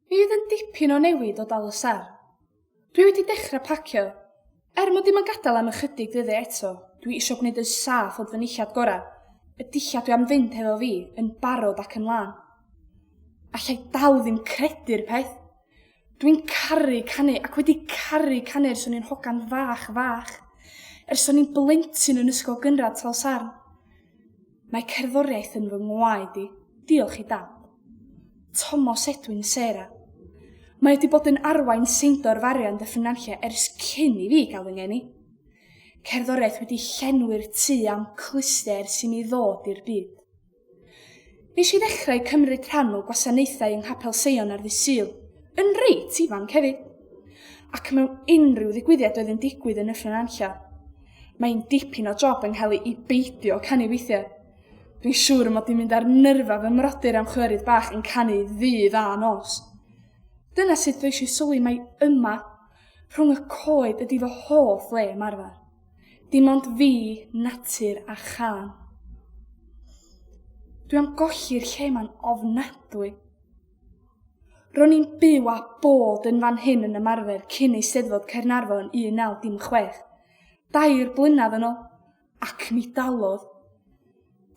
Bydd yn dipyn o newid o dal y sar. Dwi wedi dechrau pacio. Er mod i'm yn gadael am ychydig ddyddiau eto, dwi isio gwneud yn saff fod fy nillad gorau, y dillad dwi am fynd hefo fi, yn barod ac yn lân. Allai dal ddim credu'r peth! Dwi'n caru canu ac wedi caru canu ers o'n i'n hogan fach fach. Ers o'n i'n blentyn yn ysgol gynradd Tal Sarn. Mae cerddoriaeth yn fy ngwaed i, diolch i Dad. Tomos Edwin Sarah. Mae wedi bod yn arwain Seindor Farian Dyffryn Nantlle ers cyn i fi gael fy ngeni. Cerddoriaeth wedi llenwi'r tu am clustiau ers i mi ddod i'r byd. Nes i ddechrau cymryd rhan o gwasanaethau yng Nghapel Seion ar ddydd Sul, yn reit ifanc hefyd, ac mewn unrhyw ddigwyddiad oedd yn digwydd yn Nyffryn Nantlle. Mae'n dipyn o job yng Ngheli i beidio canu weithiau. Dwi'n siŵr y mod i'n mynd ar nyrfa fy mrodyr am chwerydd bach yn canu ddydd a nos. Dyna sut ddois i sylwi mai yma, rhwng y coed ydi fy hoff le ymarfer. Dim ond fi, natur a chân. Dwi am golli'r lle 'ma'n ofnadwy. Ro'n i'n byw a bod yn fan hyn yn ymarfer cyn Eisteddfod Caernarfon 1916, dair blynedd yn ôl, ac mi dalodd.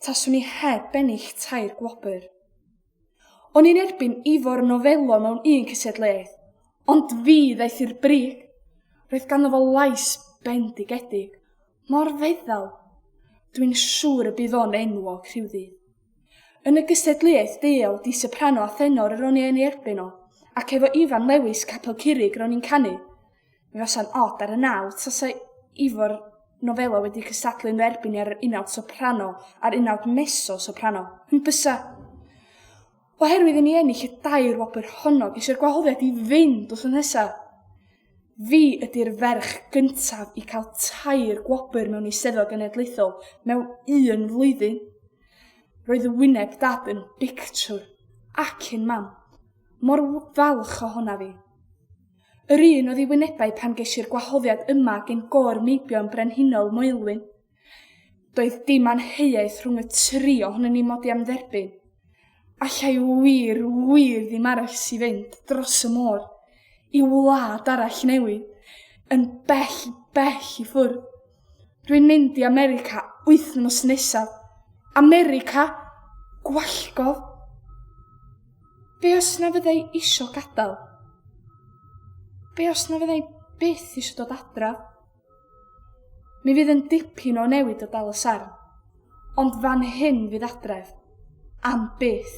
Taswn i heb bennill tair gwobr. O'n i'n erbyn Ifor Novello mewn un cysiadlaeth, ond fi ddaeth i'r brig. Roedd ganddo fo lais bendigedig, Mor ddeddfol! Dwi'n siŵr y bydd o'n enwog rhywddydd. Yn y gystadleuaeth deuol di soprano a thenor yr o'n i yn ei erbyn o, ac efo Ifan Lewis Capel Curig ro'n i'n canu. Mi fasa'n od ar y nawdd tasa Ifor Novello wedi cystadlu yn fy erbyn i ar yr unawd soprano a'r unawd mezzo soprano. Yn bysa? Oherwydd i ni ennill y dair wobr honno, geisio'r gwahoddiad i fynd wrth nesa. Fi ydy'r ferch gyntaf i cael tair gwobr mewn eisteddfod genedlaethol mewn un flwyddyn. Roedd y wyneb dad yn bictiwr ac yn mam. Mor falch o honna fi. Yr un oedd i wynebau pan geisiau'r gwahoddiad yma gen gôr meibion brenhinol Moelwyn. Doedd dim anheuaeth rhwng y tri ohonyn ni mod i am dderbyn. Allai wir, wir ddim arall i fynd dros y môr i wlad arall newydd, yn bell, bell i ffwrdd. Rwy'n mynd i America wythnos nesaf. America? Gwallgof? Be os na fyddai isio gadael? Be os na fyddai byth eisiau dod adra? Mi fydd yn dipyn o newid o dal y sarn, ond fan hyn fydd adref. Am byth.